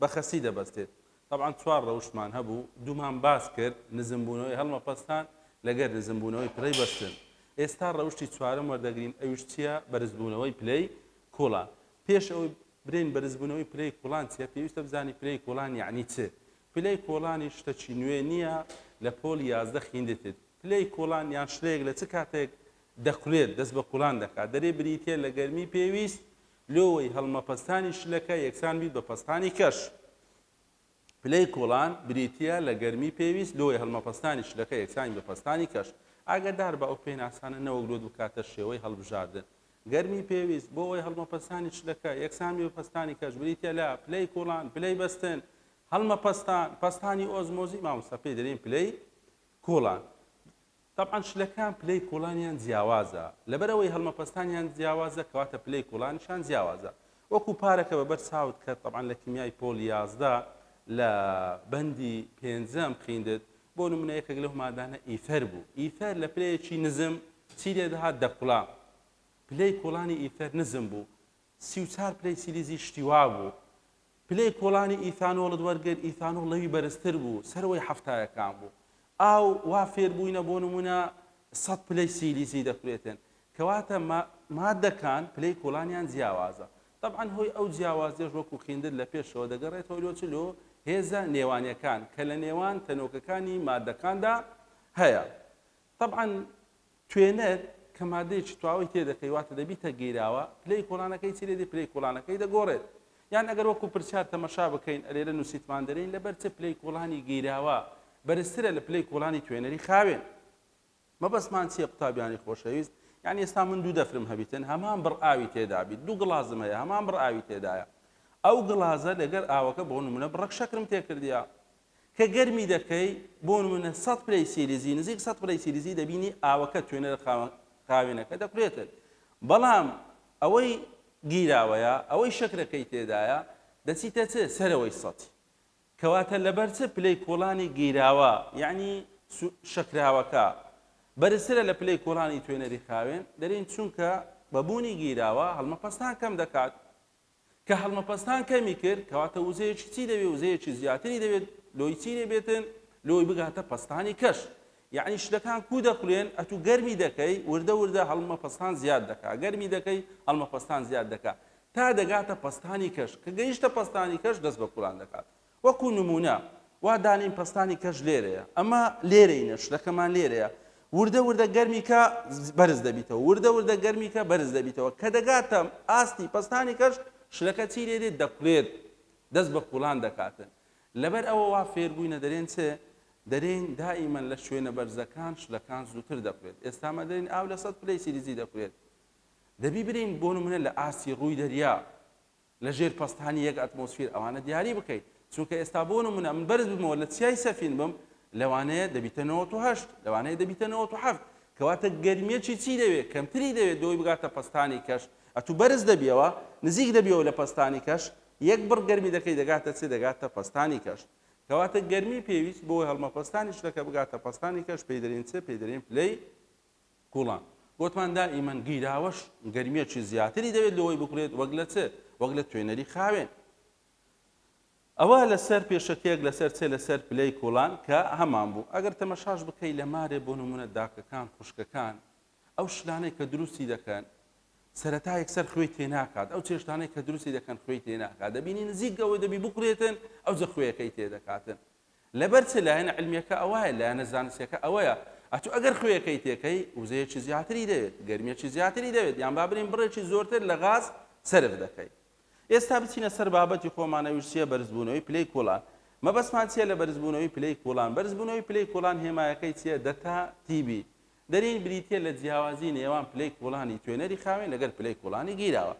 بە خەستی دەبەستێت. تەبعەن چوار رەوشتمان هەبوو، دوومان باس کرد، نزمبوونەوەی هەڵمەپەستان لەگەر نزمبوونەوەی پلەی بەستن. ئێستا رەوشتی چوارەم وەردەگرین ئەویش چییە؟ بەرزبوونەوەی پلەی کوڵان. پێش ئەوەی برێین بەرزبوونەوەی پلەی کوڵان چییە، پێویستە بزانین پلەی کوڵان یەعنی چ؟ پلەی کوڵانیش شتەکی نوێ نییە لە پۆلی یازدە خیندتت. پلەی کوڵان یان شلەیەک لە چ کاتێک دەکولێت، دەست بە کوڵان دەکات، دەرێ بریتییە لە گەرمی پێویست لۆوەی هەڵمەپەستانی شلەکە یەکسان بیت بە پەستانی کەش. پلەی کوڵان بریتییە لە گەرمی پێویست لۆوەی هەڵمەپەستانی شلەکە یەکسان بیت بە پەستانی کەش. ئاگادار بە ئەو پێناسانە نەوەک لۆت بکاتە شێوەی هەڵبژاردن. گەرمی پێویست بۆ وەی هەڵمەپەستانی شلەکە یەکسان بیت بە پەستانی کەش بریتییە لە، پلەی کوڵان، پلەی بەستن، هەڵمەپەستان، پەستانی ئۆزمۆزی مامۆستا پێی دەلێین پلەی کوڵان. تەبعەن شلەکان پلەی کوڵانیان جیاوازە لەبەر ئەوەی هەڵمەپەستانیان جیاوازە کەواتە پلەی کوڵانیشان جیاوازە وەکو پارەکە بەبەر چاوت کە تەبعەن لە کیمیای پۆڵ یازدە لە بەندی پێنجەم خیندت بۆ نمونە یەکەک لەو مادانە ئیثەر بوو ئیثەر لە پلەیەکی نزم چی لێ دەهات دەکوڵا پلەی کوڵانی ئیثەر نزم بوو سی و چار پلەی سیلیزی شتی وابوو پلەی کۆڵانی ئیثانۆڵت وەرگر، ئیثانۆڵ لەوی بەرزتر بوو، سەرەوەی حەفتایەکان بوو. ئاو، وا فێر بووینە بۆ نموونە سەد پلەی سیلیزی دەکورێتێن. کەواتە ما ماددەکان پلەی کۆڵانیان جیاوازە. تەبعەن هۆی ئەو جیاوازیەش وەکوو خیندر لە پێشەوە دەگەڕێتەوە لۆ چ؟ لۆ هێزە نێوانیەکان کە لە نێوان تەنۆکەکانی ماددەکاندا هەیە. تەبعەن توێنەر کە مادەیەکی تواوەی تێ دەکەی واتە دەبیتە گیراوە پلەی کۆڵانەکەی چی لێدی پلەی کۆڵانەکەی دەگۆڕێت یان ئەگەر وەکو پرسیار تەمەشا بکەین ئەلێرە نووسیتمان دەرین لەبەر چ پلەی کۆڵانی گیراوە بەرزترە لە پلەی کۆڵانی توێنەری خاوێن مەبەستمان چییە قوتابیانی خۆشەویست یعنی ئێستا من دوو دەفرم هەبیتن هەمان بڕ ئاوی تێدابیت دوو گڵازم هەیە هەمان بڕ ئاوی تێدایە ئەو گڵازە لەگەر ئاوەکە بۆ نمونە بڕەک شەکرم تێکردە کە گەرمی دەکەی بۆ نمونە سەد پلەی سیلیزی نزیک سەد پلەی سیلیزی دەبینی ئاوەکە توێنەرە خاوێنەکە دەکولێتت بەڵام ئەوەی گیراوەیە ئەوەی شەکرەکەی تێدایە دەچیتە چ سەرەوەی سەد کەواتە لەبەر چ پلەی کۆڵانی گیراوە یعنی شەکراوەکە بەرزترە لە پلەی کۆڵانی توێنەری خاوێن دەرین چونکە بەبوونی گیراوە هەڵمەپەستان کەم دەکات کە هەڵمەپەستان کەمی کرد، کەواتە وزەیەکی چی دەبێت، وزەیەکی زیاتری دەبێت، لۆی چی دەبێتن، لۆی بگاتە پەستانی کەش. یەعنی شتەکان کوو دەخولێن، ئەتوو گەرمی دەکەی، وردە وردە هەڵمەپەستان زیاد دەکا، گەرمی دەکەی، هەڵمەپەستان زیاد دەکا، تا دەگاتە پەستانی کەش، کە گەیشتە پەستانی کەش دەست بە کوڵان دەکاتن. وەکو نموونە وا دانێین پەستانی کەش لێرەیە، ئەمە لێرەینە، شلەکەمان لێرەیە، وردە وردە گەرمی کە بەرز دەبیتەوە، وردە وردە گەرمی کە بەرز دەبیتەوە، کە دەگاتە ئاستی پەستانی کەش، شلەکە چی لێ دێت؟ دەکولێت، دەست بە کوڵان دەکاتن. لەبەر ئەوە وا فێر بووینە دەرێن چ؟ دەرێین دائیمەن لە شوێنە بەرزەکان شلەکان زووتر دەکولێت، ئێستا مە دەرێین ئاو لە سەد پلەی سیلیزی دەکولێت. دەبی برێین بۆ نموونە لە ئاستی ڕووی دەریا، لە ژێر پەستانی یەک ئەتمۆسفیر ئەوانە دیاری بکەیت چونکە ئێستا بۆ نمونە من بەرز ببمەوە لە چیای سەفین بم لەوانەیە دەبیتە نەوەت و هەشت لەوانەیە دەبیتە نەوەت و حەفت کەواتە گەرمیەکی چی دەوێت کەمتری دەوێت بۆی بگاتە پەستانی کەش ئەتو بەرز دەبیەوە نزیک دەبیەوە لە پەستانی کەش یەک بڕ گەرمی دەکەی دەگاتە چ دەگاتە پەستانی کەش کەواتە گەرمی پێویست بۆ هەڵمەپەستانی شتەکە بگاتە پەستانی کەش پێی دەرین چ پێی دەرین پلەی گوڵان، گۆتمان دائیمەن گیراوەش گەرمیەکی زیاتری دەوێت لۆەی بکورێت وەک لە چ؟ وەک لە توێنەری خاوێن. ئەوە لە سەر پێشەکیەک لە سەر چ؟ لە سەر پلەی کوڵان کە هەمان بوو. ئەگەر تەمەشاش بکەی لە مارێ بۆ نمونە داکەکان خوشکەکان ئەو شلانەی کە دروستی دەکەن سەرەتا یەکسەر خوێی تێناکات ئەو چێشتانەی کە دروستی دەکەن خوێی تێناکات دەبینی نزیک گەوەی دەبی بکورێتن ئەو جە خوێەکەی تێدەکاتن لەبەر چ لایەنە علمیەکە ئەوایە لایەنە زانستیەکە ئەوەیە ئەتو ئەگەر خوێەکەی تێکەی وزەیەکی زیاتری دەوێت گەرمیەکی زیاتری دەوێت یان با برێن بڕێکی زۆرتر لە غاز سەرف دەکەی ئێستا بچینە سەر بابەتی خۆمان ئەویش چیە بەرزبوونەوەی پلەی کوڵان مەبەستمان چیە لە بەرزبوونەوەی پلەی کوڵان بەرزبوونەوەی پلەی کوڵان هێمایەکەی چیە دەتا تیبی دەرین بریتە لە جیاوازی نێوان پلەی کوڵانی توێنەری خاوێن لەگەر پلەی کوڵانی گیراوە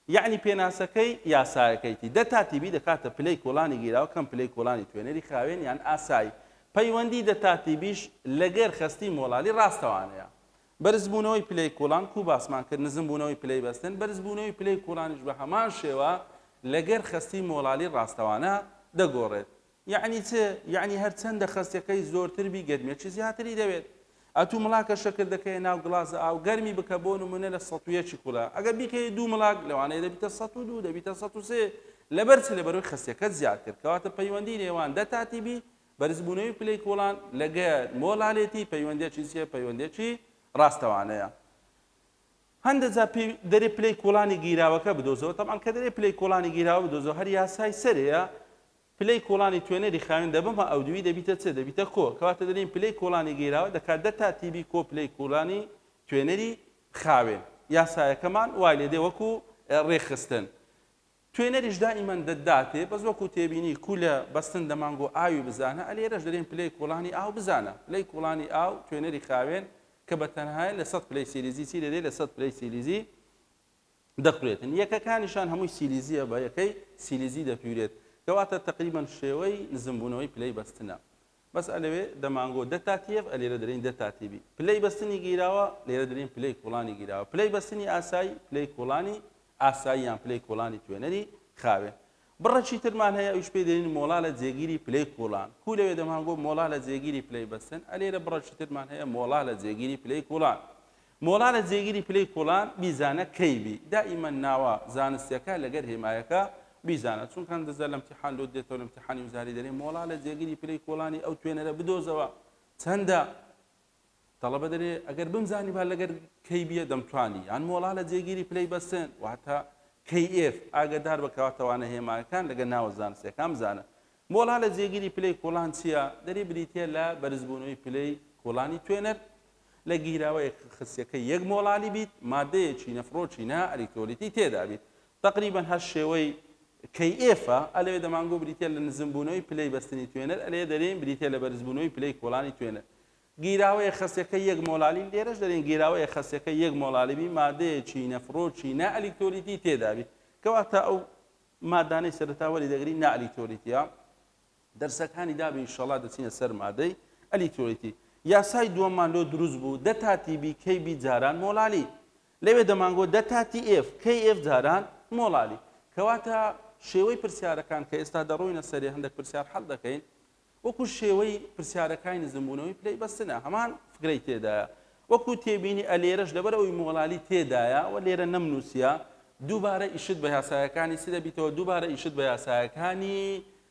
یەعنی پێناسەکەی یاسایەکەیتی دە تا تیبی دەکاتە پلەی کۆڵانی گیراو کەم پلەی کۆڵانی توێنەری خاوێن یان ئاسایی پەیوەندی دە تا تیبیش لەگەر خەستی مۆڵالی ڕاستەوانەیە بەرزبوونەوەی پلەی کۆڵان کو باسمان کرد نزمبوونەوەی پلەی بەستن بەرزبوونەوەی پلەی کۆڵانیش بە هەمان شێوە لەگەر خەستی مۆڵالی ڕاستەوانە دەگۆڕێت یەعنی چ؟ یەعنی هەر چەندە خەستەکەی زۆرتر بی گەرمیەکی زیاتری دەوێت. ئەتوو مڵاکە شەکر دەکەیە ناو گڵازە ئاو گەرمی بکە بۆ نموونە لە سەد و یەکی کولا ئەگەر بیکەیە دوو مڵاک لەوانەیە دەبیتە سەد و دوو دەبیتە سەد و سێ لەبەر چی لەبەرەوەی خەستەکەت زیاد کرد کەواتە پەیوەندی نێوان دە تا تی بی بەرزبوونەوەی پلەی کوڵان لەگەر مۆلالێتی پەیوەندێکی چیە پەیوەندێکی ڕاستەوانەیە هەندە جا پێ دەرێ پلەی کوڵانی گیراوەکە بدۆزەوە تەمان کە دەرێ پلەی کوڵانی گیراوە بدۆزەوە هەر یاسای سەرەیە پلەی کوڵانی توێنەری خاوێن دەبم ە ئەودووی دەبیتە چ؟ دەبیتە کۆ، کەواتە دەلێین پلەی کوڵانی گیراوە دەکات دە تا تیبی کۆ پلەی کوڵانی توێنەری خاوێن. یاسایەکەمان وای لێدێ وەکو رێکخستن. توێنەریش دائیمەن دە داتێ، بەس وەکو تێبینی کولە بەستن دەمانگۆ ئاوی بزانە، ە لێرەش دەلێین پلەی کوڵانی ئاو بزانە. پلەی کوڵانی ئاو توێنەری خاوێن کە بە تەنهایە لە سەد پلەی سیلیزی چی دەدێ؟ لە سەد پلەی سیلیزی دەخورێتن یەکەکانیشان هەمووی سیلیزیە بە یەکەی سیلیزی دەپیورێت کەواتە تەقریبەن شێوەی نزم بوونەوەی پلەی بەستنە بەس ئەلەوێ دەمانگۆ دە تا تیەڤ ئەلێرە دەلێین دە تا تیبی پلەی بەستنی گیراوە لێرە دەلێین پلەی کوڵانی گیراوە پلەی بەستنی ئاسایی پلەی کوڵانی ئاسایی یان پلەی کوڵانی توێنەری خاوێن بڕەکی ترمان هەیە ئەویش پێی دەلین مۆڵا لە جێگیری پلەی کوڵان کو لەوێ دەمانگۆ مۆڵا لە جێگیری پلەی بەستن ئەلێرە بڕەکی ترمان هەیە مۆڵا لە جێگیری پلەی کوڵان مۆڵا لە جێگیری پلەی کوڵان بیزانە کەی بی دائیمەن ناوە زانستیەکە لەگەر هێمایەکە بیزانە چونکە هەندزە لە امتیحان لۆت دێتەوە لە امتیحانی وزاری دەرێ مۆڵا لە جێگیری پلەی کوڵانی ئەو توێنەرە بدۆزەوە چەندە تەڵەبە دەرێ ئەگەر بمزانیبا لەگەر کەی بیە دەمتوانی یان مۆڵا لە جێگیری پلەی بەسن واتە KF ئاگەدار بە کەواتەوانە هێمایەکان لەگە ناوە زانستیەکان بزانە مۆڵا لە جێگیری پلەی کوڵان چیە دەری بریتە لە بەرزبوونەوەی پلەی کوڵانی توێنەر لە گیراوەیە خسیەکەی یەک مۆڵالی بیت مادەیەکی نەفرۆکی نا ئەلیکترۆلیتی تێدا بیت تەقریبەن هەر شێوەی کەی ئێفە ئەلەوێ دەمانگۆ بریتە لە نزم بوونەوەی پلەی بەستنی توێنەر ئەلەیە دەرێن بریتە لە بەرز بوونەوەی پلەی کۆڵانی توێنەر گیراوەیە خەسیەکە یەک مۆلالی لێرەش دەرێن گیراوەیە خەسیەکە یەک مۆلالیبی مادەیەکی نەفرۆکی نا ئەلیکترۆلیتی تێدابی کەواتە ئەو مادانەی سەرتاوەری دەگری نا ئەلیکترۆلیتیە دەرسەکانی دابێ ئیشەڵا دەچینە سەر مادەی، ئەلیترۆیتی، یاسای دووەممان لۆ دروست بوو، دە تا تی بی کەی بی جاران مۆڵالی. لەوێ دەمانگۆت دە تا تی ئێف کەی ئێف جاران مۆڵالی. کەواتە شێوەی پرسیارەکان کە ئێستا دەڕۆینە سەرێ هەندەک پرسیار حەل دەکەین وەکوو شێوەی پرسیارەکای نزمبوونەوەی پلەی بەستنە هەمان فکرەی تێدایە وەکوو تێبینی ئە لێرەش لەبەر ئەوی مۆڵالی تێدایە وە لێرە نەمنووسیە دووبارە ئیشت بە یاسایەکانی چ دەبیتەوە دووبارە ئیشت بە یاسایەکانی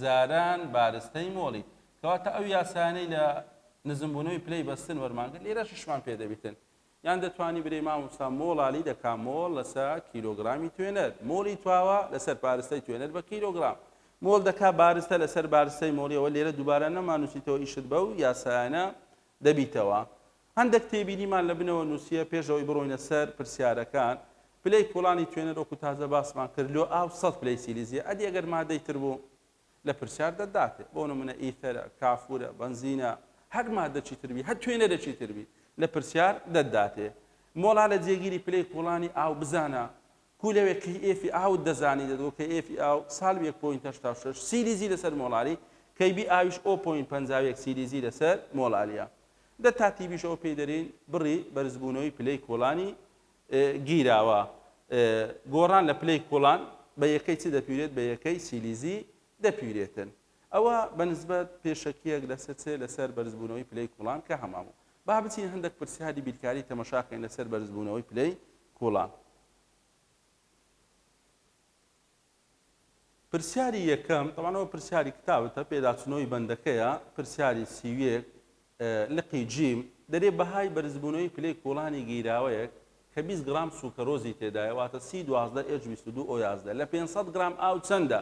جاران بارستەی مۆڵی، کەواتە ئەو یاسایانەی لە نزمبوونەوەی پلەی بەستن وەرمانگرت لێرەشیشمان پێ دەبیتن. یان دەتوانی برێی مامۆستا مۆڵالی دەکا مۆڵ لەسە کیلۆگرامی توێنەر، مۆڵی تواوە لەسەر بارستەی توێنەر بە کیلۆگرام، مۆڵ دەکا بارستە لەسەر بارستەی مۆڵی ئەوە لێرە دووبارە نەمانووسیتەوە ئیشت بەو یاسایانە دەبیتەوە. هەندەک تێبینیمان لە بنەوە نووسییە پێش ئەوەی بڕۆینە سەر پرسیارەکان، پلەی کوڵانی توێنەر وەکو تازە باسمان کرد لۆ ئاو سەد پلەی سیلیزیە ئەدی ئەگەر مادەی تر بوو لە پرسیار دەتداتێ بۆ نمونە ئیثەرە کافورە بەنزینە هەر مادەکی تر بی هەر توێنەرێکی تر بی لە پرسیار دەتداتێ مۆڵا لە جێگیری پلەی کوڵانی ئاو بزانە کو لەوێ کەی ئێفی ئاوت دەزانی دەدگۆ کە ئێفی ئاو سالب یەک پۆینت هەشتا و شەش سیلیزی لەسەر مۆڵاری کەی بی ئاویش ئۆ پۆینت پەنجا و یەک سیلیزی لەسەر مۆڵاریە دە تا تیڤیش ئەوە پێی دەرێین بڕی بەرزبوونەوەی پلەی کۆڵانی گیراوە گۆڕان لە پلەی کۆڵان بە یەکەی چ دەپیورێت بە یەکەی سیلیزی دەپیورێتن ئەوە بە نسبەت پێشەکیەک لەسەر چ لەسەر بەرزبوونەوەی پلەی کۆڵان کە هەماموو با بچین هەندێک پرسیاری بیرکاری تەمەشاکەین لەسەر بەرزبوونەوەی پلەی کۆڵان پرسیاری یەکەم، تەبعەن ئەوە پرسیاری کتاوتە، پێداچونەوەی بەندەکەیە، پرسیاری سی و یەک لقی جیم، دەرێ بەهای بەرزبونەوەی پلەی کوڵانی گیراوەیەک کە بیست گڕام سوکەرۆزی تێدایە واتە سی دوازدە ئێچ بیست و دوو ئۆ یازدە لە پێنج سەد گڕام ئاو چەندە؟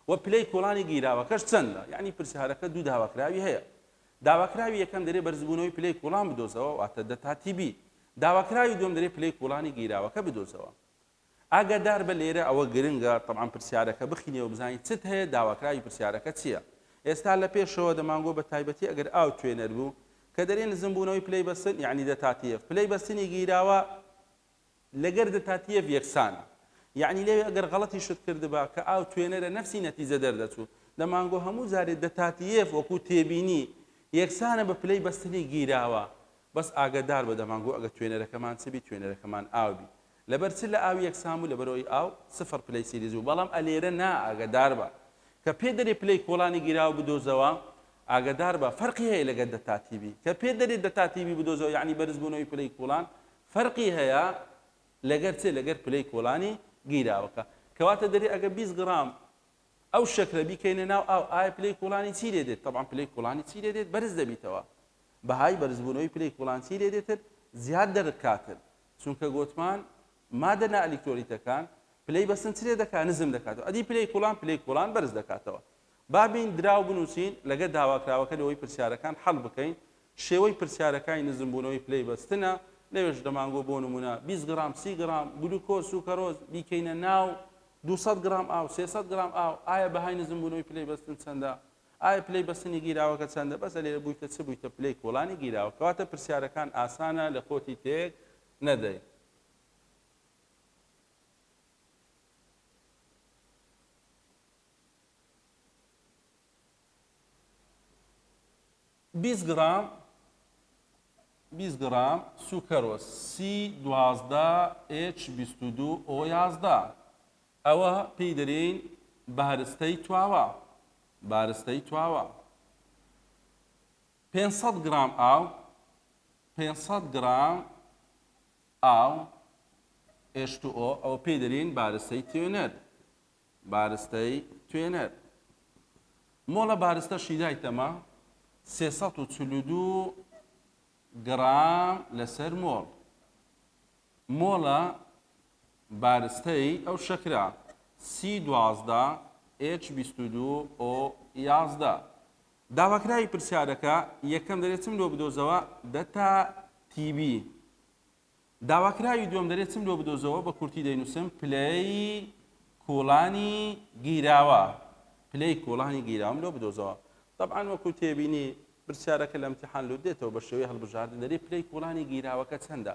وە پلەی کوڵانی گیراوەکەش چەندە؟ یەعنی پرسیارەکە دوو داواکراوی هەیە. داواکراوی یەکەم دەرێ بەرزبونەوەی پلەی کوڵان بدۆزەوە واتە دە تا تی بی. داواکراوی دوەم دەرێ پلەی کوڵانی گیراوەکە بدۆزەوە. ئاگاداربە لێرە ئەوە گرنگە تەبعەن پرسیارەکە بخینی و بزانی چت هەیە داواکراوی پرسیارەکە چیە ئێستا لە پێشەوە دەمانگۆ بە تایبەتی ئەگەر ئاو توێنەر بوو کە دەرێ نزم بوونەوەی پلەی بەستن یەعنی دەتاتیەف پلەی بەستنی گیراوە لەگەر دەتاتیەف یەکسانە یەعنی لێوێ ئەگەر غەڵەتی شت کردبا کە ئاو توێنەرە نەفسی نەتیجە دەردەچوو دەمانگۆ هەموو جارێ دەتاتیەف وەکو تێبینی یەکسانە بە پلەی بەستنی گیراوە بەس ئاگەدار بە دەمانگۆ ئەگە توێنەرەکەمان چبی توێنەرەکەمان ئاو بی لەبەر چ لە ئاو یەک سام و لەبەر ئەوەی ئاو سفر پلەی سیلیز بوو بەڵام ئەلێرە نا ئاگەدار بە کە پێ دەرێ پلەی کۆڵانی گیراوە بدۆزەوە ئاگەدار بە فەرقی هەیە لەگەر دەتا تیبی کە پێ دەرێ دەتا تیبی بدۆزەوە یەعنی بەرز بوونەوەی پلەی کوڵان فەرقی هەیە لەگەر چێ لەگەر پلەی کۆڵانی گیراوەکە کەواتە دەرێ ئەگە 20 گڕام ئەو شەکرە بیکەینە ناو ئاو ئایا پلەی کوڵانی چی لێ دێت طبعا پلەی کوڵانی چی لێ دێت بەرز دەبیتەوە بەهای بەرزبوونەوەی پلەی کوڵان چی لێ دێتر زیاد دەرکاتر چونکە گۆتمان مادە نا ئەلیکترۆلیتەکان پلەی بەسن چلێ دەکا نزم دەکاتەوە ئەدی پلەی کوڵان پلەی کوڵان بەرز دەکاتەوە با بین دراو بنووسین لەگە داواکراوەکە لەوەی پرسیارەکان حەل بکەین شێوەی پرسیارەکانی نزم بوونەوەی پلەی بەستنە لەوێش دەمانگۆ بۆ نمونە 20 گرام سی گرام گلوکۆز سوکەرۆز بیکەینە ناو 200 گرام ئاو 300 گرام ئاو ئایا بەهای نزم بوونەوەی پلەی بەستن چەندە ئایا پلەی بەستنی گیراوەکە چەندە بەسە لێرە بویتە چ بویتە پلەی کۆڵانی گیراوە کەواتە پرسیارەکان ئاسانە لە خۆتی تێک نەدەی. بیست گڕام بیست گڕام سوکەرۆس سی دوازدە ئێچ بیست و دوو ئۆ یازدە ئەوە پێی دەرێین بارستەی تواوە بارستەی تواوە پێنج سەد گڕام ئاو پێنج سەد گڕام ئاو H2O ئەوە پێی دەرێین بارستەی توێنەر بارستەی توێنەر مۆڵە بارستەشی دایتەمە سێ سەد و چل و دوو گڕام لەسەر مۆڵ مۆڵە بارستەی ئەو شەکرە، سی دوازدە ئێچ بیست و دوو ئۆ یازدە. داواکراوی پرسیارەکە، یەکەم، دەرێ چم لۆ بدۆزەوە دەتا تیبی. داواکراوی دووەم، دەرێ چم لۆ بدۆزەوە بە کورتی دەینووسم پلەی کوڵانی گیراوە. پلەی کوڵانی گیراوەم لۆ بدۆزەوە. تەبعەن وەکوو تێبینی، پرسیارەکە لە ئیمتیحان لووت دێتەوە بە شێوەی هەڵبژاردن، دەرێ پلەی کوڵانی گیراوەکە چەندە؟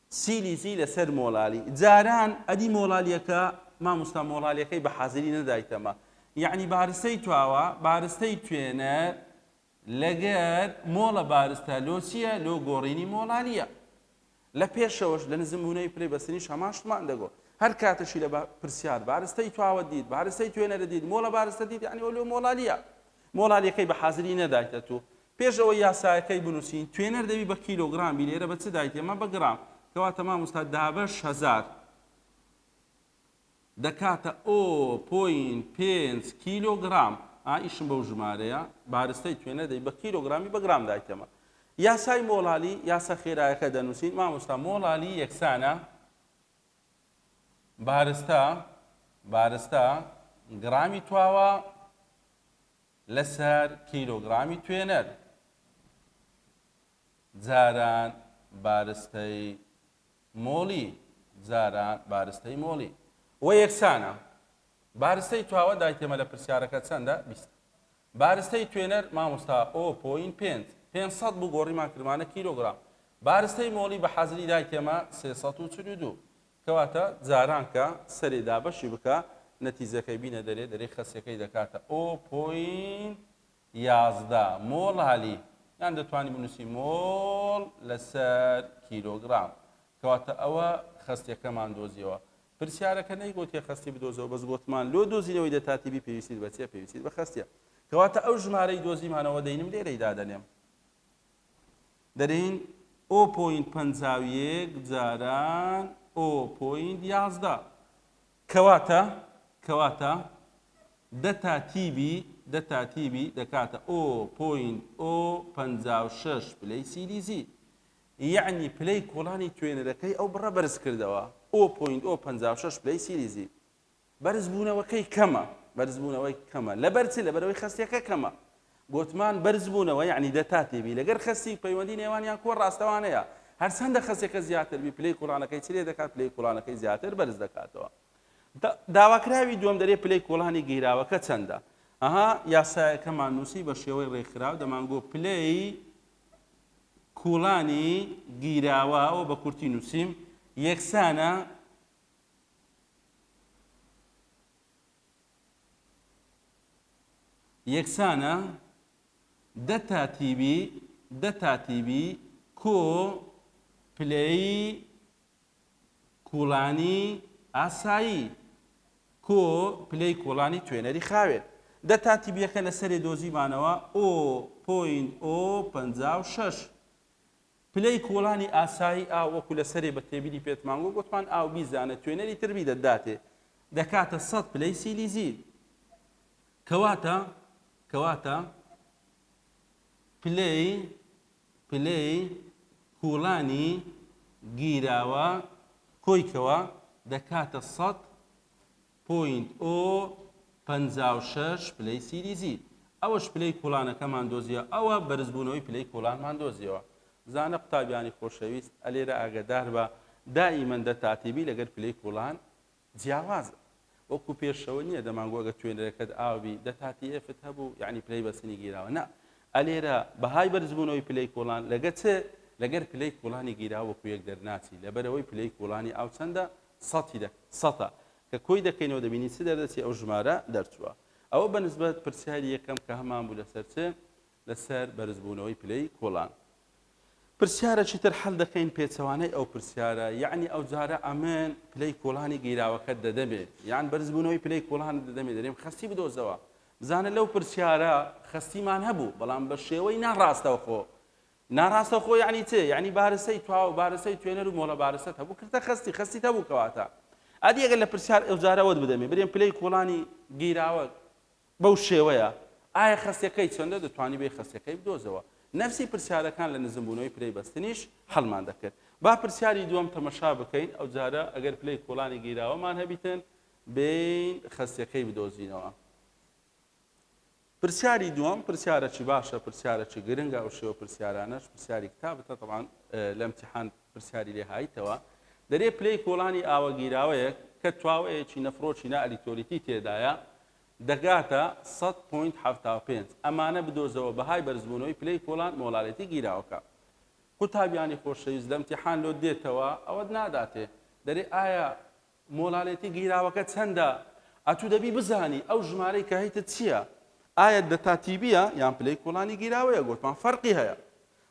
سیلیزی لەسەر مۆڵالی جاران ئەدی مۆڵالیەکە ماموستا مۆڵالیەکەی بە حازری نەدایتەمە یەعنی بارستەی تواوە بارستەی توێنەر لەگەر مۆڵە بارستە لۆ چیە لۆ گۆڕینی مۆڵالیە لە پێشەوەش لە نزمونەی پلەی بەستنیش هەمان شتمان دەگۆ هەر کاتەشی لە پرسیار بارستەی تواوە دیت بارستەی توێنەرە دیت مۆڵە بارستە دیت یعنی لۆ مۆڵالیە مۆڵالیەکەی بە حازری نەدایتە تو پێش ئەوەی یاسایەکەی بنوسین توێنەر دەبی بە کیلۆگرام بی لێرە بە چ دایتی ئەمە بە گرام کەواتە ماموستا دابەش هەزار دەکاتە ئۆ پۆین پێنج کیلۆ گرام ئایشم بەو ژمارەیە بارستەی توێنە دەی بە کیلۆ گرامی بە گرام دایتەمە یاسای مۆڵالی یاسا خێرایەکە دەنووسین مامۆستا مۆڵالی یەکسانە بارستە بارستە گرامی تواوە لەسەر کیلۆگرامی توێنەر جاران بارستەی مۆڵی جاران بارستەی مۆڵی و یەکسانە. بارستەی تواوە دایتێمە لە پرسیارەکە چەندە؟ بیست. بارستەی توێنەر مامۆستا ئۆ پۆین پێنج پێنج سەد بوو گۆڕیمان کردمانە کیلۆگرام. بارستەی مۆڵی بە حازری دایتێمە سێ سەد و چل و دوو. کەواتە جاران کە سەرێ دابەشی بکە نەتیجەکەی بینە دەرێ دەرێ خەسیەکەی دەکاتە ئۆ پۆینت یازدە مۆڵالی یان دەتوانی بنوسی مۆڵ لەسەر کیلۆگرام کەواتە ئەوە خەستیەکەمان دۆزیەوە پرسیارەکە نەیگۆتیە خەستی بدۆزەوە بەس گۆتمان لۆ دۆزینەوەی دەتاتی بی پێویستیت بەچیە پێویستیت بە خەستیە کەواتە ئەو ژمارەی دۆزیمانەوە دەینم لێرەی دادەنێم دەرێین ئۆ پۆینت پەنجا و یەک جاران ئۆ پۆینت یازدە. کەواتە کەواتە دە تا تیبی دە تا تیبی دەکاتە ئۆ پۆینت ئۆ پەنجا و شەش پلەی سیلیزی. یەعنی پلەی کۆڵانی توێنەرەکەی ئەو بڕە بەرزکردەوە ئۆ پۆینت ئۆ پەنجا و شەش پلەی سیلیزی. بەرزبوونەوەکەی کەمە بەرزبوونەوەی کەمە لەبەر چ لەبەرەوەی خەستەکە کەمە گوتمان بەرزبوونەوە یعنی دەتا تێبی لەگەر خەستی پەیوەندی نێوانیان کۆ ڕاستەوانەیە هەرچەندە خەسەکە زیاتر بی پلەی کوڵانەکەی چرێ دەکات پلەی کوڵانەکەی زیاتر بەرز دەکاتەوە داواکراوی دوم دەرێ پلەی کۆڵانی گیراوەکە چەندە ئەها یاسایەکەمان نووسی بە شێوەی ڕێکخراو دەمانگۆ پلەی کوڵانی گیراوە ئەو بە کورتی نووسیم یەکسانە یەکسانە دە تا تیبی دە تا تیبی کۆ پلەیی کوڵانی ئاسایی کۆ پلەی کوڵانی توێنەری خاوێن دە تا تیبیەکە لە سەرێ دۆزیمانەوە ئۆ پۆینت ئۆ پەنجا و شەش پلەی کوڵانی ئاسایی ئاو وەکو لە سەرێ بە تێبینی پێتمان گوت گوتمان ئاو بیزانە توێنەری تر بیدە داتێ دەکاتە سەد پلەی سیلیزیل کەواتە کەواتە پلەی پلەی کوڵانی گیراوە کۆیکەوە دەکاتە سەد پۆینت ئۆ پەنجا و شەش پلەی سیریزی ئەوەش پلەی کوڵانەکەمان دۆزیەوە ئەوە بەرزبوونەوەی پلەی کوڵانمان دۆزیەوە زانە قوتابیانی خۆشەویست ئەلێرە ئاگەداربە دائیمەن دە تاتیبی لەگەر پلەی کوڵان جیاوازە وەکو پێشەوە نییە دەمانگۆ گە توێنەرەکەت ئاوبی دە تاتی ئێفت هەبوو یعنی پلەی بەسنی گیراوە نا ئەلێرە بەهای بەرزبوونەوەی پلەی کوڵان لەگە چ لەگەر پلەی کوڵانی گیراوە وەکو یەک دەرناچی لەبەرەوەی پلەی کوڵانی ئاو چەندە سەتی دە سەتە کە کۆی دەکەینەوە دەبینین چ دەردەچێ ئەو ژمارە دەرچووە ئەوە بە نسبەت پرسیاری یەکەم کە هەمان بوو لەسەر چ لەسەر بەرزبوونەوەی پلەی کۆڵان. پرسیارەکی تر حەل دەکەین پێچەوانەی ئەو پرسیارە یەعنی ئەوجارە ئەمن پلەی کۆڵانی گیراوەکەت دەدەمێ یان بەرزبوونەوەی پلەی کۆڵانت دەدەمێ دەرێم خەستی بدۆزەوە بزانە لەو پرسیارە خەستیمان هەبوو بەڵام بە شێوەی ناڕاستەوخۆ ناراستەوخۆ یەعنی چ یەعنی بارسەی تواو بارسەی توێنەرو مۆڵە بارسەت هەبوو کردتە خەستی خەستیت هەبوو کەواتە ئەدی ئەگەر لە پرسیار ئەوجارە وەت بدەمێ برێم پلەی کۆڵانی گیراوە بەو شێوەیە ئایا خەستەکەی چەندە دەتوانیبێ خەستەکەی بدۆزەوە نەفسی پرسیارەکان لە نزم بوونەوەی پلەی بەستنیش حەلمان دەکرد با پرسیاری دووەم تەمەشا بکەین ئەوجارە ئەگەر پلەی کۆڵانی گیراوەمان هەبیتن بێین خەستەکەی بدۆزینەوە. پرسیاری دووەم پرسیارەکی باشە پرسیارەکی گرنگە ئەو شێوە پرسیارانەش پرسیاری کتابتە طبعاً لە امتحان پرسیاری لێ هایتەوە دەرێ پلەی کۆڵانی ئاوە گیراوەیەک کە تواوەیەکی نەفرۆکی نا ئەلیکتۆلیتی تێدایە دەگاتە سەد پۆینت حەفتا و پێنج ئەمانە بدۆزەوە بەهای بەرزبوونەوەی پلەی کۆڵان مۆڵارێتی گیراوەکە قوتابیانی خۆشەویست لە امتحان لۆ دێتەوە ئەوەت ناداتێ دەرێ ئایا مۆلالیتی گیراوەکە چەندە؟ ئەتوو دەبی بزانی ئەو ژمارەی کە هەیتت چیە؟ ئایە دەتا تیبیە یان پلەی کۆڵانی گیراوەیە گۆتمان فەرقی هەیە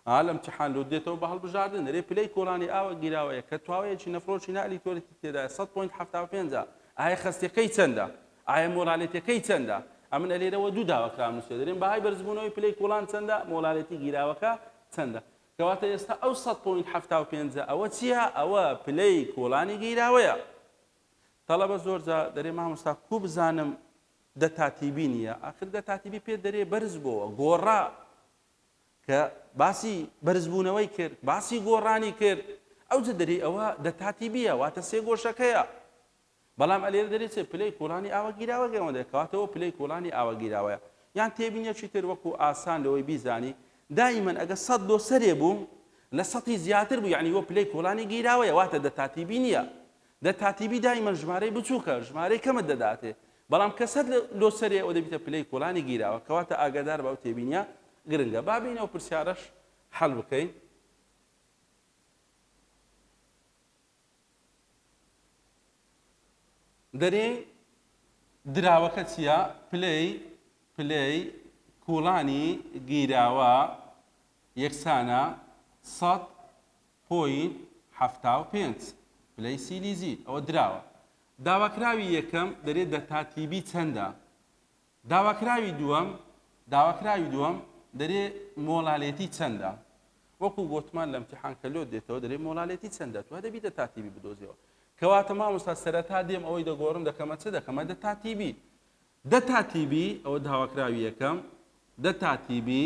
ها لە امتحان لۆت دێتەوە بە هەڵبژاردن دەرێ پلەی کۆڵانی ئاوە گیراوەیە کە تواوەیەکی نەفرۆکی نا ئەلیتۆریتی تێدایە سەد پۆینت حەفتا و پێنج ئایە خەستەکەی چەندە ئایە مۆلالیتەکەی چەندە ئەمن ئەلێرەوە دوو داواکرام نووسێ دەرێن بەهای بەرزبوونەوەی پلەی کۆڵان چەندە مۆلالیتی گیراوەکە چەندە کەواتە ئێستا ئەو سەد پۆینت حەفتا و پێنج ە ئەوە چیە ئەوە پلەی کۆڵانی گیراوەیە تەڵەبە زۆر جا دەرێ مامۆستا کو بزانم دە تاتیبی نیە ئاخر دە تاتیبی پێ دەرێ بەرز بۆوە گۆڕا کە باسی بەرزبوونەوەی کرد باسی گۆڕانی کرد ئەو جە دەری ئەوە دە تاتیبیە واتە سێ گۆشەکەیە بەڵام ئەلێرە دەلێ چێ پلەی کوڵانی ئاوە گیراوە گەرمە دەلێ کەواتەوە پلەی کوڵانی ئاوە گیراوەیە یان تێبینیەکی تر وەکو ئاسان لەوەی بیزانی دائیمەن ئەگە سەد لۆ سەرێ بوو لە سەتی زیاتر بوو یعنی وە پلەی کوڵانی گیراوەیە واتە دە تاتیبی نییە دە تاتیبی دائیمەن ژمارەی بچووکە ژمارەی کەمت دەداتێ بەڵام کە سەد لۆ سەرێ ئەوە دەبیتە پلەی کوڵانی گیراوە کەواتە ئاگادار بە ئەو تێبینیە گرنگە با بینەوە پرسیارەش حەل بکەین دەرێی دراوەکە چیە؟ پلەی پلەی کوڵانی گیراوە یەکسانە سەد پۆینت حەفتا و پێنج پلەی سیلیزی ئەوە دراوە داواکراوی یەکەم دەرێ دەتا تیبی چەندە؟ داواکراوی دووەم، داواکراوی دووەم دەرێ مۆڵالێتی چەندە؟ وەکو گۆتمان لە امتحان کە لۆت دێتەوە دەرێ مۆڵالێتی چەندە؟ تۆ دەبی دە تاتیبی بدۆزیەوە. کەواتە مامۆستا سەرەتا دێم ئەوەی دەگۆڕم دەکەمە چ دەکەمە دە تاتیبی. دە تاتیبی ئەوە داواکراوی یەکەم، دە تاتیبی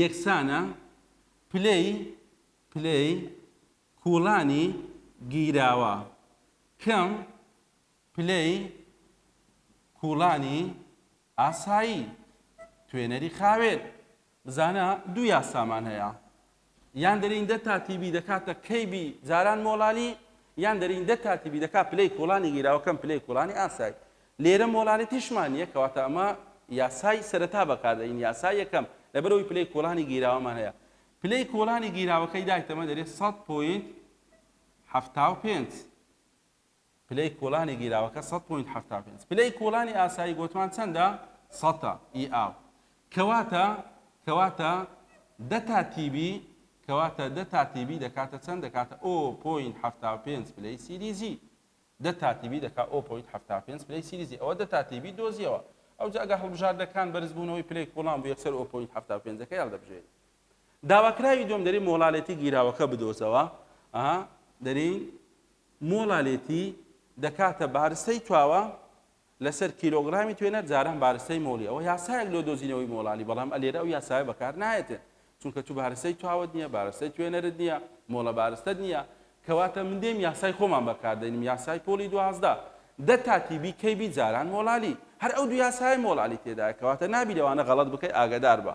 یەکسانە پلەی پلەی کوڵانی گیراوە کەم پلەی کوڵانی ئاسایی توێنەری خاوێن. بزانە دوو یاسامان هەیە یان دەرینندە تاتیبی دەکاتە کەیبی جاران مۆڵانی یان دەرینندە تاتیبی دەکات پلەی کوڵانی گیراوەکەم پلەی کوڵانی ئاسایی لێرە مۆڵانی تیشمان نیە کەواتە ئەمە یاسای سەرەتا بەکاردەین یاسا یەکەم لەبەرەوەی پلەی کوڵانی گیراوەمان هەیە پلەی کوڵانی گیراوەکەی دایتەمە دەرێت 100 پوینت 75 پلەی کۆڵانی گیراوەکە سەد پۆینت حەفتا و پێنج. پلەی کۆڵانی ئاسایی گۆتمان چەندە؟ سەتە ی ئاو. کەواتە کەواتە دە تا تیبی کەواتە دە تا تیبی دەکاتە چەند؟ دەکاتە ئۆ پۆینت حەفتا و پێنج پلەی سیلیزی. دە تا تیبی دەکا ئۆ پۆینت حەفتا و پێنج پلەی سیلیزی. ئەوە دە تا تیبی دۆزیەوە. ئەوجا ئەگەر هەڵبژاردەکان بەرزبوونەوەی پلەی کۆڵان بوو یەکسەر ئۆ پۆینت حەفتا و پێنجەکەی هەڵدەبژێری. داواکراوی دووەم دەرین مۆڵالێتی گیراوەکە بدۆزەوە ئە دەرین مۆڵالێتی دەکاتە بارستەی تواوە لەسەر کیلۆگرامی توێنەر جاران بارستەی مۆڵی ئەوە یاسایەک لۆ دۆزینەوەی مۆڵالی بەڵام ئەلێرە ئەو یاسایە بەکار نایەتێ چونکە تو بارستەی تواوت نییە بارستەی توێنەرت نییە مۆڵە بارستەت نییە کەواتە من دێم یاسای خۆمان بەکاردەینم یاسای پۆلی دوازدە دە تاتی بی کەی بی جاران مۆڵالی هەر ئەو دو یاسای مۆڵالی تێدایە کەواتە نابی لەوانە غەڵەت بکەی ئاگدار بە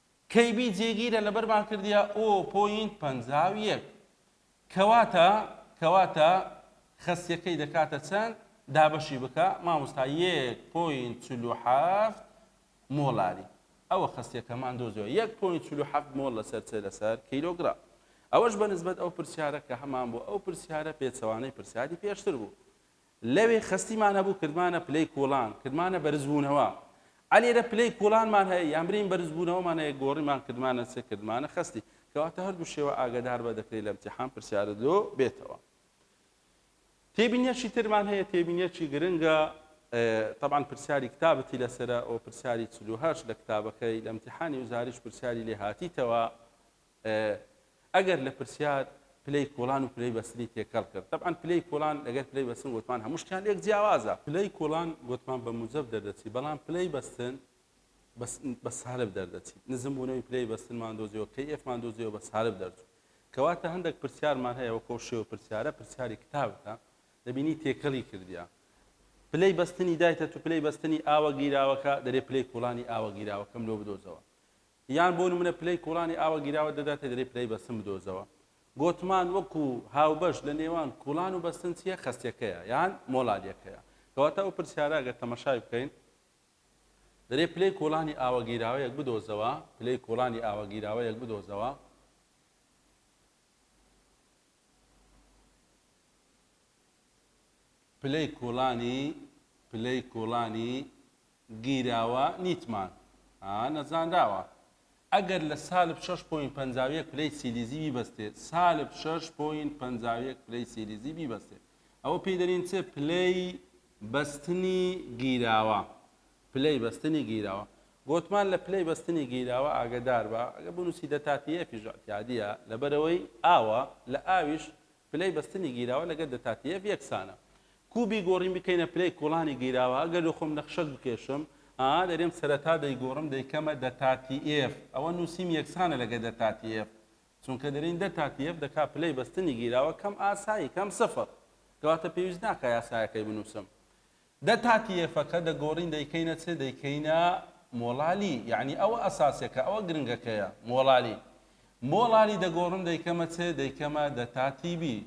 KB جێگیرە لەبەرمان کردیە ئۆ پۆینت پەنجا و یەک کەواتە کەواتە خەسیەکەی دەکاتە چەند دابەشی بکە مامۆستا یەک پۆینت چل و حەفت مۆڵاری ئەوە خەسیەکەمان دۆزیەوە یەک پۆینت چل و حەفت مۆڵ لەسەر چ لەسەر کیلۆگرام ئەوەش بەنسبەت ئەو پرسیارە کە هەمان بۆ ئەو پرسیارە پێچەوانەی پرسیاری پێشتر بوو لەوێ خەستیمان هەبوو کردمانە پلەی کوڵان، کردمانە بەرزبوونەوە. ئەلێرە پلەی کوڵانمان هەیە، یان برێین بەرزبوونەوەمان هەیە، گۆڕیمان کردمانە چ کردمانە خەستی. کەواتە هەردوو شێوە ئاگەدار بە دەکرێت لە امتیحان پرسیارت لۆ بێتەوە. تێبینیەکی ترمان هەیە، تێبینیەکی گرنگە، تەبعەن پرسیاری کتابتی لەسەرە، ئەوە پرسیاری چل و هەشت لە کتابەکەی، لە امتیحانی وزاریش پرسیاری لێ هاتیتەوە، ئەگەر لە پرسیار پلەی کوڵان و پلەی بەستنی تێکەڵ کرد تەبعەن پلەی کوڵان لەگەر پلەی بەستن وتمان هەموو شتیان لێک جیاوازە. پلەی کوڵان وتمان بە موجەب دەردەچی بەڵام پلەی بەستن بە سالب دەردەچی نزم بوونەوەی پلەی بەستنمان دۆزیەوە کەی ئێفمان دۆزیەوە بە سالب دەرچوو کەواتە هەندێک پرسیارمان هەیە وەکۆ شێوە پرسیارە پرسیاری کتابتە دەبینی تێکەڵی کردیا پلەی بەستنی دایتە تو پلەی بەستنی ئاوە گیراوەکە دەرێ پلەی کوڵانی ئاوە گیراوەکەم لۆ بدۆزەوە یان بۆ نمونە پلەی کوڵانی ئاوە گیراوە دەداتێ دەلێ پلەی بەستن بدۆزەوە گۆتمان وەکو هاوبەش لە نێوان کوڵان و بەستن چیە خەستیەکەیە یان مۆلاریەکەیە کەواتە ئەو پرسیارە گەر تەمەشای بکەین دەلێ پلەی کوڵانی ئاوە گیراوەیەک بدۆزەوە پلەی کوڵانی ئاوە گیراوەیەک بدۆزەوە پلەی کوڵانی پلەی کوڵانی گیراوە نیتمان ها نەزانراوە ئەگەر لە سالب شەش پۆینت پەنجا و یەک پلەی سیلیزی بیبەستێ سالب شەش پۆینت پەنجا و یەک پلەی سیلیزی بیبەستێ ئەوە پێی دەرین چ پلەی بەستنی گیراوە پلەی بەستنی گیراوە گۆتمان لە پلەی بەستنی گیراوە ئاگدار بە ئەگە بنووسی دەتاتی ئەفیش اعتیادیە لەبەرەوەی ئاوە لە ئاویش پلەی بەستنی گیراوە لەگەر دەتاتیێف یەکسانە. کوبی گۆڕین بکەینە پلەی کوڵانی گیراوە، ئەگەر لۆ خۆم نەخشەک بکێشم، ئا دەرێم سەرەتا دەیگۆڕم دەیکەمە دەتاتیێف، ئەوە نووسیم یەکسانە لەگەر دەتاتیێف، چونکە دەرێین دەتاتیێف دەکا پلەی بەستنی گیراوە کەم ئاسایی، کەم سفر. کەواتە پێویست ناکا یاسایەکەی بنووسم. دە تاتی یەفەکە دەگۆڕین دەیکەینە چ؟ دەیکەینە مۆڵالی یەعنی ئەوە ئەساسەکە ئەوە گرنگەکەیە مۆڵالی مۆڵالی دەگۆڕم دەیکەمە چ؟ دەیکەمە دە تاتی بی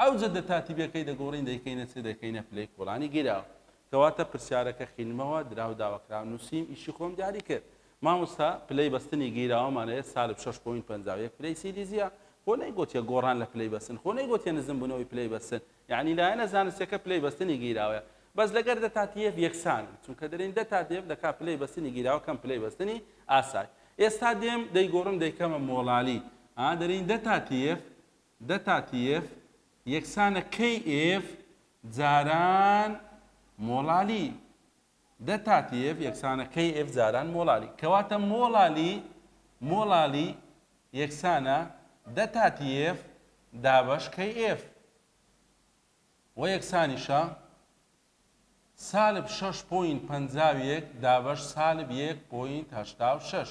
ئەوجە دە تاتی بیەکەی دەگۆڕین دەیکەینە چ؟ دەکەینە پلەی کوڵانی گیراو کەواتە پرسیارەکە خینمەوە دراو داوەکراو نوسیم ئیشی خۆم دیاری کرد مامۆستا پلەی بەستنی گیراوەمان ئەیە سالب شەش پۆینت پەنجا و یەک پلەی سیلیزیە خۆ نەیگۆتیە گۆڕان لە پلەی بەستن خۆ نەیگۆتیە نزمبونەوەی پلەی بەستن یەعنی لایەنە زانستیەکە پلەی بەستنی گیراوە بەس لەگەر دە تاتیێف یەکسانن چونکە دەرێن دە تاتیێف دەکا پلەی بەستنی گیراوە کەم پلەی بەستنی ئاسای ئێستا دێم دەیگۆڕم دەیکەمە مۆڵالی ئا دەرێن دە تاتیێف دە تاتیێف یەکسانە کەی ئێف جاران مۆڵالی دە تا TF یەکسانە KF جاران مۆڵالی. کەواتە مۆڵالی مۆڵالی یەکسانە دە تا TF دابەش KF وە یەکسانیشە سالب شەش پۆینت پەنجا و یەک دابەش سالب یەک پۆینت هەشتا و شەش.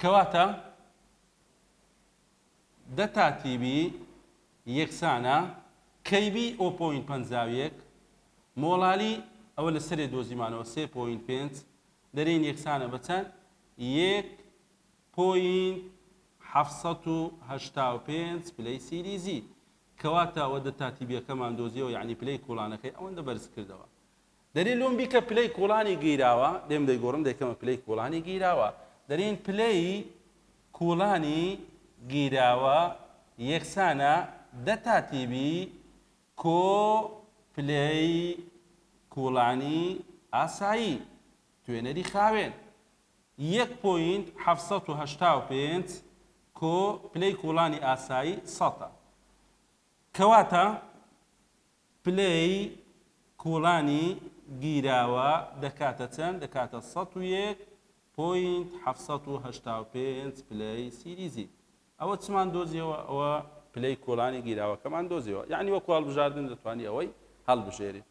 کەواتە دە تا تی بی یەکسانە کەی بی ئۆ پۆینت پەنجا و یەک مۆڵالی ئەوە لە سەرێ دۆزیمانەوە سێ پۆینت پێنج دەرێین یەکسانە بە چەند یەک پۆینت حەفت سەد و هەشتا و پێنج پلەی سیریزی کەواتە ئەوە دە تا تی بیەکەمان دۆزیەوە یانی پلەی کوڵانەکەی ئەوەندە بەرز کردەوە دەرێ لۆم بیکە پلەی کوڵانی گیراوە لێم دەیگۆڕن دەیکەمە پلەی کوڵانی گیراوە دەرێن پلەی کوڵانی گیراوە یەکسانە دە تا تیبی کۆ پلەی کوڵانی ئاسایی توێنەری خاوێن یەک پۆینت حەفت سەد و هەشتا و پێنج کۆ پلەی کوڵانی ئاسایی سەتە کەواتە پلەی کوڵانی گیراوە دەکاتە چەند؟ دەکاتە سەد و یەک پۆینت حەفت سەد و هەشتا و پێنج پلەی سیریزی. ئەوە چمان دۆزیەوە؟ ئەوە پلەی کوڵانی گیراوەکەمان دۆزیەوە. یەعنی وەکو هەڵبژاردن دەتوانی ئەوەی هەڵبژێریت.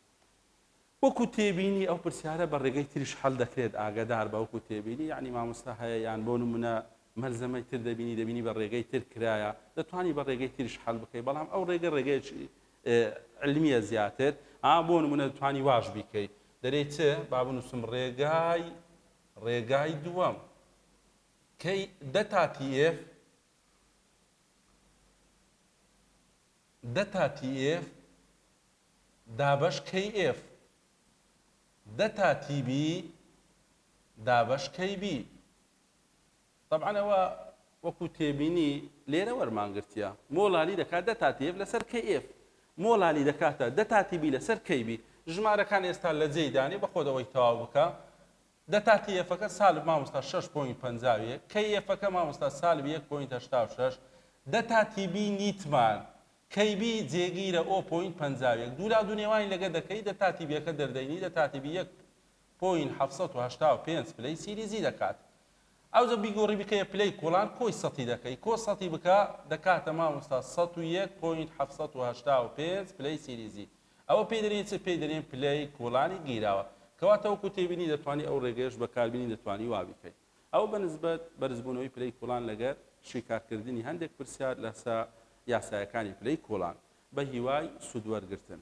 وەکو تێبینی ئەو پرسیارە بە ڕێگەی تریش حەل دەکرێت ئاگەدار بە وەکو تێبینی یانی مامۆستا هەیە یان بۆ نمونە مەلزەمەی تر دەبینی دەبینی بە ڕێگەی تر کرایە دەتوانی بە ڕێگەی تریش حەل بکەی بەڵام ئەو ڕێگە ڕێگەیەکی علمیە زیاتر ئا بۆ نمونە دەتوانی واش بیکەی دەرێی چ با بنووسم ڕێگای ڕێگای دووەم کەی دە تاتی ئێف دە تاتی ئێف دابەش کەی ئێف دە تا تی بی دابەش کەی بی تەبعەن ئەوە وەکو تێبینی لێرە وەرمان گرتیە مۆلالی دەکات دە تا تی ئێف لەسەر کەی ئێف مۆلالی دەکاتە دە تا تی بی لەسەر کەی بی ژمارەکان ئێستا لە جێی دانی بە خۆت ئەوەی تەواو بکە دە تا تی ئێفەکە سالب مامۆستا شەش پۆینت پەنجا و یەک کەی ئێفەکە مامۆستا سالب یەک پۆینت هەشتا و شەش دە تا تی بی نیتمان کەی بی جێگیرە ئۆ پۆینت پەنجا و یەک دوو لا دوو نێوانی لەگە دەکەی دە تاتی بیەکە دەردەینی دە تاتی بی یەک پۆینت حەفت سەد و هەشتا و پێنج پلەی سیریزی دەکات ئەوجە بیگۆڕی بکەیە پلەی کۆڵان کۆی سەتی دەکەی کۆ سەتی بکە دەکاتە مامۆستا سەد و یەک پۆینت حەفت سەد و هەشتا و پێنج پلەی سیریزی ئەوە پێی دەرێن چ پێی دەرێن پلەی کۆڵانی گیراوە کەواتە وەکو تێبینی دەتوانی ئەو ڕێگەیەش بەکاربینی دەتوانی وابیکەی. ئەو بە نسبەت بەرزبوونەوەی پلەی کوڵان لەگەر شیکارکردنی هەندێک پرسیار لەسە یاسایەکانی پلەی کوڵان بە هیوای سوودوەرگرتن.